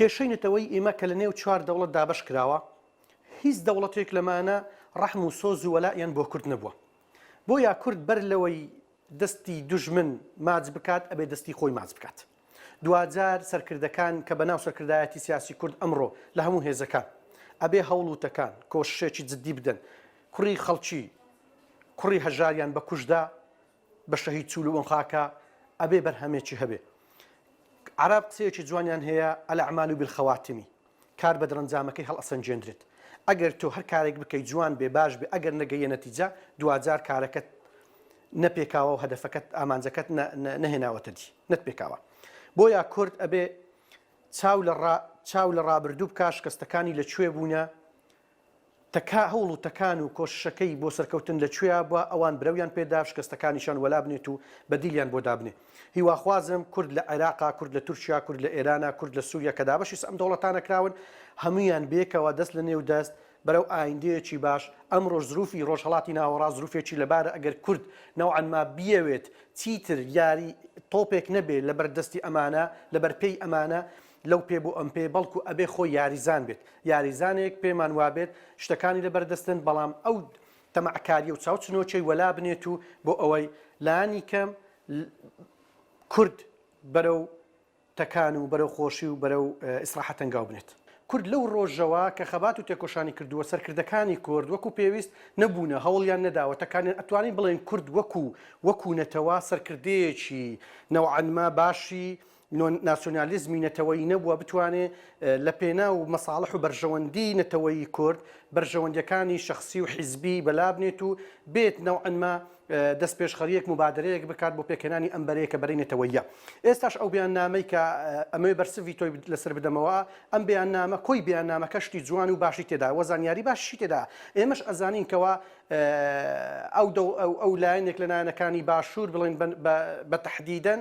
کێشەی نەتەوەیی ئیمە کە لە نێو چوار دەوڵەت دابەش کراوە، هیچ دەوڵەتێک لەمانە ڕەحم و سۆز و وەلائیان بۆ کورد نەبووە. بۆیە کورد بەر لەوەی دەستی دوژمن ماچ بکات ئەبێ دەستی خۆی ماچ بکات. دواجار سەرکردەکان کە بە ناو سەرکردایەتی سیاسی کورد ئەمڕۆ لە هەموو هێزەکان ئەبێ هەوڵ و تەکان، کۆششێکی جدی بدەن کوڕی خەڵکی کوڕی هەژاریان بە کوشتدا بە شەهید چول و ئەم خاکە ئەبێ بەرهەمێکی هەبێ عرب قسەیەکی جوانیان هەیە الاعمال بالخواتمی کار بە دەرەنجامەکەی هەڵئەسەنجێندرێت ئەگەر تۆ هەر کارێک بکەیت جوان بێ باش بێ ئەگەر نەگەیە نەتیجە دواجار کارەکەت نەپێکاوە و هەدەفەکەت ئامانجەکەت نەهێناوەتە دی نەت پێکاوە بۆیە کورد ئەبێ چاو لە چاو لە ڕابردوو بکە شکستەکانی لە کوێ بوونە تکا هەوڵ و تەکان و کۆششەکەی بۆ سەرکەوتن لە کوێیا بوە ئەوان برەویان پێدا شکەستەکانیشان وەلا بنێت و بەدیلیان بۆ دابنێ هیواخوازم کورد لە عێراقا کورد لە تورکیا کورد لە ئێرانا کورد لە سوریا کە دابەشی سئم دەوڵەتانە کراون هەمویان بێکەوە دەست لە نێو دەست بەرەو ئایندەیەکی باش ئەمرۆش زروفی رۆژهەڵاتی ناوەڕاست زروفێکی لەبارە ئەگەر کورد نەوعەن ما بیەوێت چیتر یاری تۆپێک نەبێ لەبەر دەستی ئەمانە لەبەر پێی ئەمانە لەو پێ بۆ ئەم پێ بەڵکو ئەبێ خۆی یاریزان بێت یاریزانێک پێمان وابێت شتەکانی لەبەردەستن بەڵام ئەو تەمەعکاریە و چاوچنۆکەی وەلا بنێت و بۆ ئەوەی لانی کەم کورد بەرەو تەکان و بەرەو خۆشی و بەرەو ئیسراحەت هەنگاو بنێت. کورد لەو ڕۆژەوە کە خەبات و تێکۆشانی کردووە سەرکردەکانی کورد وەکو پێویست نەبوونە هەوڵیان نەداوە تەکانیان ئەتوانین بڵێن کورد وەکو وەکو نەتەوە سەرکردەیەکی نەوعەنما باشی ناسیۆنالیزمی نەتەوەیی نەبووە بتوانێ لە پێناو مەساڵح و بەرژەوەندی نەتەوەیی کورد بەرژەوەندیەکانی شخصی و حیزبی بەلابنێت و بێت نەوعەنما دەست پێشخەریەک مبادرەیەک بکات بۆ پێکهێنانی ئەم بەرەیە کە بەرەی نەتەوەیە ئێستاش ئەو بیان نامەی کە ئەمەوێ بەرسڤی تۆی لەسەر بدەمەوە ئەم بیان نامە کۆی بیان نامە کەشتی جوان و باشی تێدا وە زانیاری باشی تێدا ئێمەش ئەزانین کەەوە ئەو دە ئەو لایەنێک لە نایەنەکانی باشوور بڵێن بە تهدیدەن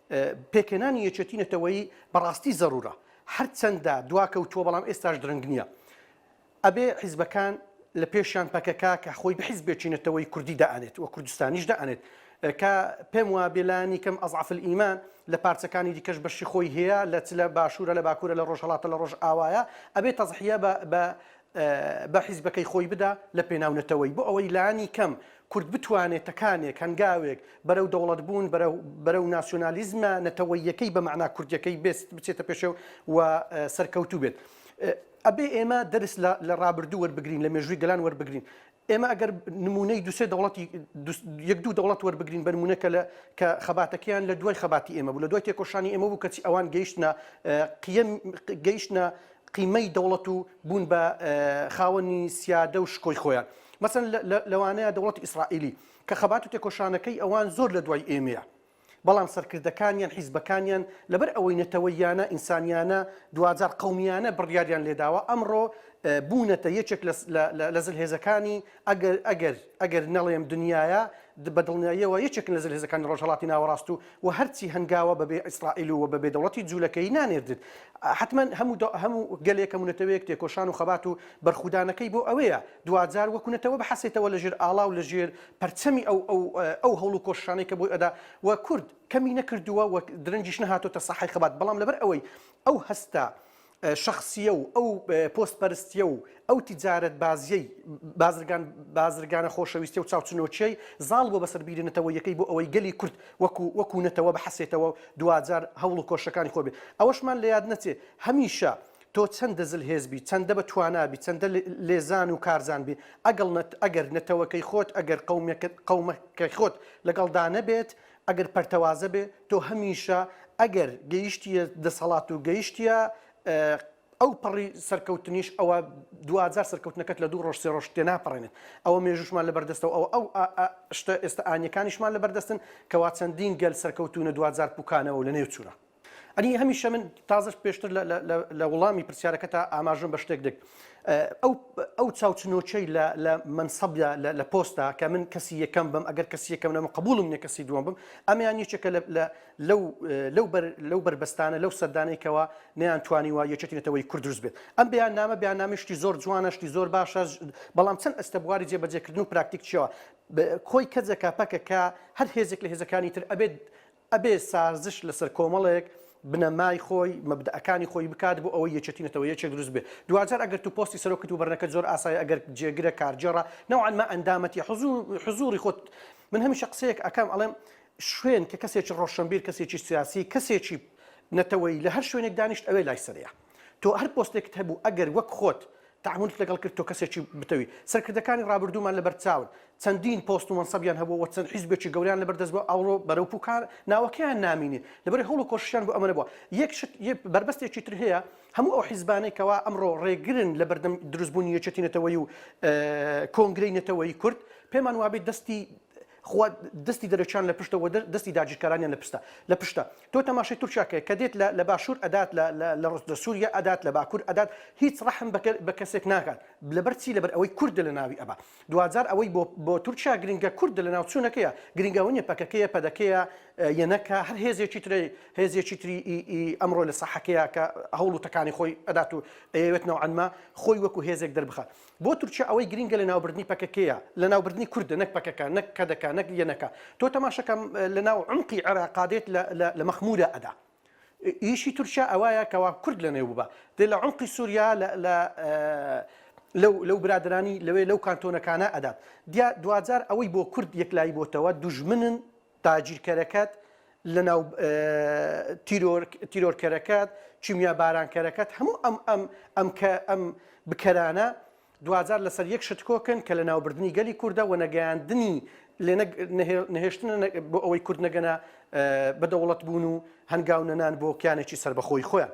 پێکهێنانی یەکێتی نەتەوەیی بەڕاستی زەرورە هەرچەندە دواکەوتووە بەڵام ئێستاش درەنگ نییە ئەبێ حیزبەکان لە پێشیان پەکەکە کە خۆی بە حیزبێکی نەتەوەی کوردی دائێت و کوردستانیش دائێت کە پێم وا بێلانی کەم ئەزعفل ئیمان لە پارچەکانی دیکەش بەشی خۆی هەیە لە چ لە باشوورە لە باکوورە لە ڕۆژهڵاتە لە ڕۆژ ئاوایە ئەبێت تەزحە بە بە حیزبەکەی خۆی بدا لە پێناو نەتەوەی بۆ ئەوەی لانی کەم کورد بتوانێت تەکانێک هەنگاوێک بەرەو دەوڵەت بوون بەرەو ناسیۆنالیزمە نەتەوەیەکەی بە مەعنا کوردیەکەی بێست بچێتە پێشێو و سەرکەوتوو بێت ئەبێ ئێمە دەرس لە ڕابردوو وەربگرین لە مێژووی گەلان وەربگرین ئێمە ئەگەر نمونەی دوسێ دەوڵەتی یەک دوو دەوڵەت وەربگرین بەرمونەکە لە کە خەباتەکەیان لە دوای خەباتی ئێمە بوو لە دوای تێکۆشانی ئێمە بوو کەچی ئەوان گەیشتە قیم گەیشتە قیمەی دەوڵەت و بوون بە خاوەنی سیادە و شکۆی خۆیان مەسن لەوانەیە دەوڵەتی ئیسرائیلی کە خەبات و تێکۆشانەکەی ئەوان زۆر لە دوای ئێمەیە بەڵام سەرکردەکانیان، حیزبەکانیان لەبەر ئەوەی نەتەوەییانە، ئینسانییانە، دواجار قەومییانە بڕیاریان لێداوە، ئەمڕۆ بوونەتە یەکێک لە زلهێزەکانی ئەگەر ئەگەر ئەگەر نەڵێم دنیایە، بە دڵنیاییەوە یەکێکن لە زلهێزەکانی ڕۆژهەڵاتی ناوەڕاست و و هەرچی هەنگاوە بەبێ ئیسرائیل و و بەبێ دەوڵەتی جوولەکەیی نانێردت. حەتمەن هەموو هەموو گەلێک، هەموو نەتەوەیەک تێکۆشان و خەبات و بەرخودانەکەی بۆ ئەوەیە، دواجار وەکو نەتەوە بحەسێتەوە لە ژێر ئاڵا و لە ژێر پەرچەمی ئەو ئەو ئەو هەوڵ و کۆششانەی کە بۆی ئەدا و کورد کەمی نەکردووە و درەنگیش نەهاتۆتە ساحەی خەبات بەڵام لەبەر ئەوەی ئەو هەستە شەخسیە و ئەو پۆست پەرستیە و ئەو تجارەت بازیەی بازرگان بازرگانە خۆشەویستی و چاوچنۆچیەی زاڵ بۆ بەسەر بیرە نەتەوەیەکەی بۆ ئەوەی گەلی کورد وەکو وەکو نەتەوە بحەسێتەوە دواجار هەوڵ و کۆشەکانی خۆبێ ئەوەشمان لە یاد نەچێ هەمیشە تۆ چەندە زل هێز بی چەندە بە توانا بی چەندە لێزان و کارزان بی ئەگەڵ نەت ئەگەر نەتەوەکەی خۆت ئەگەر قەومەکەت قەومە کە خۆت لەگەڵ دا نەبێت ئەگەر پەرتەوازە بێ تۆ هەمیشە ئەگەر گەیشتیە دەسەڵات و گەیشتیە ئەو پەڕی سەرکەوتنیش ئەوە دواجار سەرکەوتنەکەت لە دوو ڕۆژ سێ ڕۆژ تێ ناپەڕێنێت ئەوە مێژوشمان لە بەردەستەوە ئەو ئەو شتە ئێستا ئانیەکانیشمان لە بەردەستن کەوا چەندین گەل سەرکەوتونە دواجار پوکانەوە لە نێو چوونە ئەنی هەمیشە من تازش پێشتر لە وڵامی پرسیارەکەتا ئاماژم بە شتێک دێک ئەو چاوچنۆچەی لە منسەبدا لە پۆستا کە من کەسی یەکەم بم ئەگەر کەسی یەکەم نەمە قبولم نیە کەسی دووەم بم ئەمیان یەکێکە لەو بەربەستانە لەو سەردانێکەوە نیان توانیوە یەکێتی نەتەوەی کورد دروست بێت ئەم بیان نامە بیان نامیشتی زۆر جوانەشتی زۆر باشە بەڵام چەند ئەستە بواری جێبەجێکردن و پراکتیک چیەوە کۆی کەجەکە پەکەکە هەر هێزێک لە هێزەکانی تر ئەبێت ئەبێ سازش لەسەر کۆمەڵێک بنەمای خۆی، مەبدەئەکانی خۆی بکات بۆ ئەوەی یەکێتی نەتەوە یەکێک دروست بێت. دواجار ئەگەر تو پۆستی سەرۆکت و بەرنەکەت زۆر ئاسایە ئەگەر جێگرە کارگێڕە نەوعەن ما ئەندامەتی حزوری خۆت من هەمیشە قسەیەک ئەکەم ئەڵێم شوێن کە کەسێکی ڕۆشەنبیر کەسێکی سیاسی کەسێکی نەتەوەیی لە هەر شوێنێک دانیشت ئەوێ لای سەرەیە. تۆ هەر پۆستێکت هەبوو ئەگەر وەک خۆت تەعامولت لەگەڵ کرد تۆ کەسێکی بتەوی. سەرکردەکانی ڕابردوومان لەبەر چاون چەندین پۆست و مەنسەبیان هەبووە و چەند حیزبێکی گەورەیان لەبەر دەست بووە ئەوڕۆ بەرەو پوکان ناوەکەیان نامینێ لەبەر هەوڵ و کۆششیان بۆ ئەمە نەبووە. یەک شت بەربەستێکی تر هەیە هەموو ئەو حیزبانەی کەوا ئەمڕۆ ڕێگرن لە بەردەم دروستبوونی یەکێتی نەتەوەیی و کۆنگرەی نەتەوەیی کورد پێمان وابێ دەستی خوا دەستی دەرەکیان لە پشتە وە دەستی داگیرکارانیان لە پستە لە پشتە تۆ تەماشای تورکیا کە کە دێت لە باشوور ئەدات لە سووریا ئەدات لە باکوور ئەدات هیچ ڕەحم بە کەسێک ناکات لەبەر چی لەبەر ئەوەی کوردە لە ناوی ئەبا دواجار ئەوەی بۆ بۆ تورکیا گرنگە کوردە لە ناو چوونەکەیە گرنگەوە نیە پەکەکەیە پەدەکەیە یەنەکە هەر هێزێکی ترێ هێزێکی تری ئەمڕۆ لە سەحەکەیە کە هەوڵ و تەکانی خۆی ئەدات و ئەیەوێت نەوەنما خۆی وەکو هێزێک دەربخات بۆ تورکیا ئەوەی گرینگە لەناوبردنی پەکەکەیە، لەناوبردنی کوردە نەک پەکەکە، نەک کەدەکە، نەک یەنەکە. تۆ تەماشەکە لەناو عومقی عێراقا دێت لە مەخمورە ئەدا. ئیشی تورکیا ئەوایە کەوا کورد لەنێو ببا. دێ لە عومقی سوریا لەو برادەرانی لەوێ لەو کانتۆنەکانا ئەدات. دیا دواجار ئەوەی بۆ کورد یەکلایی بۆتەوە دوژمنن، تاجیرکەرەکەت لەناو تیرۆر تیرۆرکەرەکەت کیمیا بارانکەرەکەت هەموو ئەم ئەم ئەم کە ئەم بکەرانە دواجار لەسەر یەک شت کۆکن کە لە ناوبردنی گەلی کوردە و نەگەیاندنی لێ نەهێشتن بۆ ئەوەی کورد نەگەنە بە دەوڵەت بوون و هەنگاو نەنان بۆ کیانێکی سربەخۆی خۆیان.